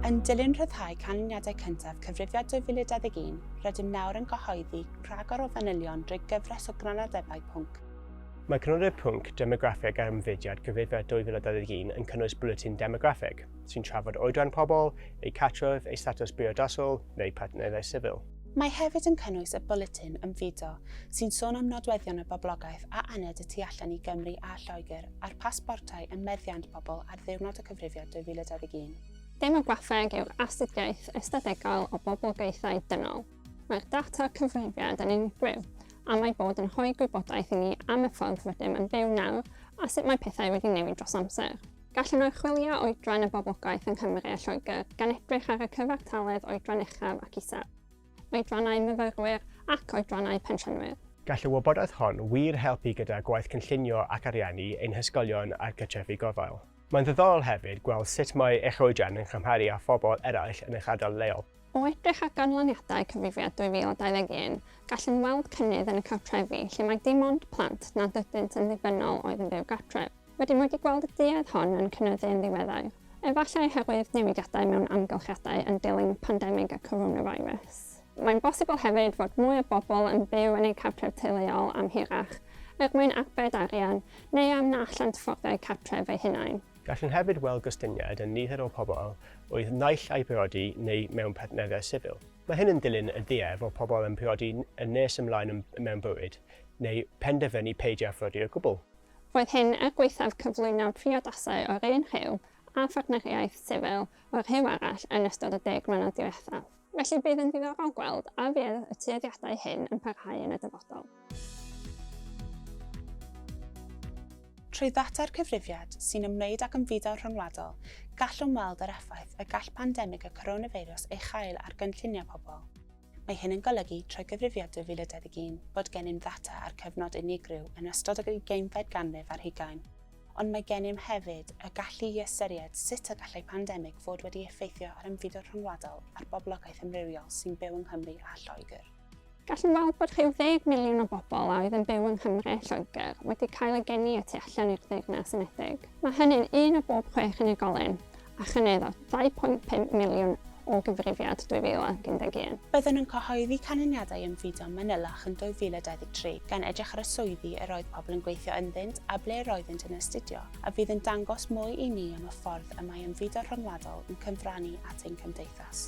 Yn dilyn rhyddhau canlyniadau cyntaf Cyfrifiad 2021, rydym nawr yn cyhoeddi rhagor o fanylion drwy gyfres o grynodebau pwnc. Mae crynodeb pwnc demograffeg ar ymddygiad Cyfrifiad 2021 yn cynnwys bwletin demograffeg, sy'n trafod oedran pobl, eu cartref, eu statws briodasol, neu partneriaethau sifil. Mae hefyd yn cynnwys y bwletin Ymfudo, sy'n sôn am nodweddion y boblogaeth a aned y tu allan i Gymru a Lloegr, a'r pasbortau ym meddiant pobl ar Ddiwrnod y Cyfrifiad 2021. Demograffeg yw'r astudiaeth ystadegol o boblogaethau dynol. Mae'r data cyfrifiad yn unigryw, am ei bod yn rhoi gwybodaeth i ni am y ffordd rydym yn byw nawr a sut mae pethau wedi newid dros amser. Gallwn oruchwylio oedran y boblogaeth yng Nghymru a Lloegr, gan edrych ar y cyfartaledd oedran uchaf ac isaf. oedrannau myfyrwyr ac oedrannau pensiynwyr. Gall y wybodaeth hon wir helpu gyda gwaith cynllunio ac ariannu ein hysgolion a'r cartrefi gofal. Mae'n ddiddorol hefyd gweld sut mae eich oedran yn cymharu â phobl eraill yn eich ardal leol. O edrych ar ganlyniadau Cyfrifiad 2021, gallwn weld cynnydd yn y cartrefi lle mae dim ond plant nad ydynt yn ddibynnol oedd yn byw gartref. Rydym wedi gweld y duedd hon yn cynyddu yn ddiweddar, efallai oherwydd newidiadau mewn amgylchiadau yn dilyn pandemig y coronavirus. Mae'n bosibl hefyd fod mwy o bobl yn byw yn eu cartref teuluol am hirach, er mwyn arbed arian, neu am na allant fforddio eu cartref eu hunain. Gallwn hefyd weld gostyngiad yn nifer o bobl oedd naill ai briodi neu mewn partneriaeth sifil. Mae hyn yn dilyn y duedd o pobl yn priodi yn nes ymlaen mewn bywyd, neu penderfynu peidio â phriodi o gwbl. Roedd hyn er gwaethaf cyflwyno priodasau o'r un rhyw a phartneriaeth sifil o'r rhyw arall yn ystod y deg mlynedd diwethaf. Felly bydd yn ddiddorol gweld a fydd y tueddiadau hyn yn parhau yn y dyfodol. Trwy ddata'r cyfrifiad sy'n ymwneud ag ymfudo rhyngwladol, gallwn weld yr effaith y gall pandemig y coronafeirws ei chael ar gynlluniau pobl. Mae hyn yn golygu, trwy Gyfrifiad 2021, bod gennym ddata ar cyfnod unigryw yn ystod yr ugeinfed ganrif ar hugain, ond mae gennym hefyd y gallu i ystyried sut y gallai pandemig fod wedi effeithio ar ymfudo rhyngwladol a'r boblogaeth amrywiol sy'n byw yng Nghymru a Lloegr. Gallwn weld bod rhyw ddeg miliwn o bobl a oedd yn byw yng Nghymru a Lloegr wedi cael eu geni y tu allan i'r Deyrnas Unedig. Mae hynny'n un o bob chwech unigolyn, a chynyddodd 2.5 miliwn o gyfrifiad 2011. Byddwn yn cyhoeddi canlyniadau ymfudo manylach yn 2023, gan edrych ar y swyddi yr oedd pobl yn gweithio ynddynt a ble yr oeddynt yn astudio, a fydd yn dangos mwy i ni am y ffordd y mae ymfudo rhyngwladol yn cyfrannu at ein cymdeithas.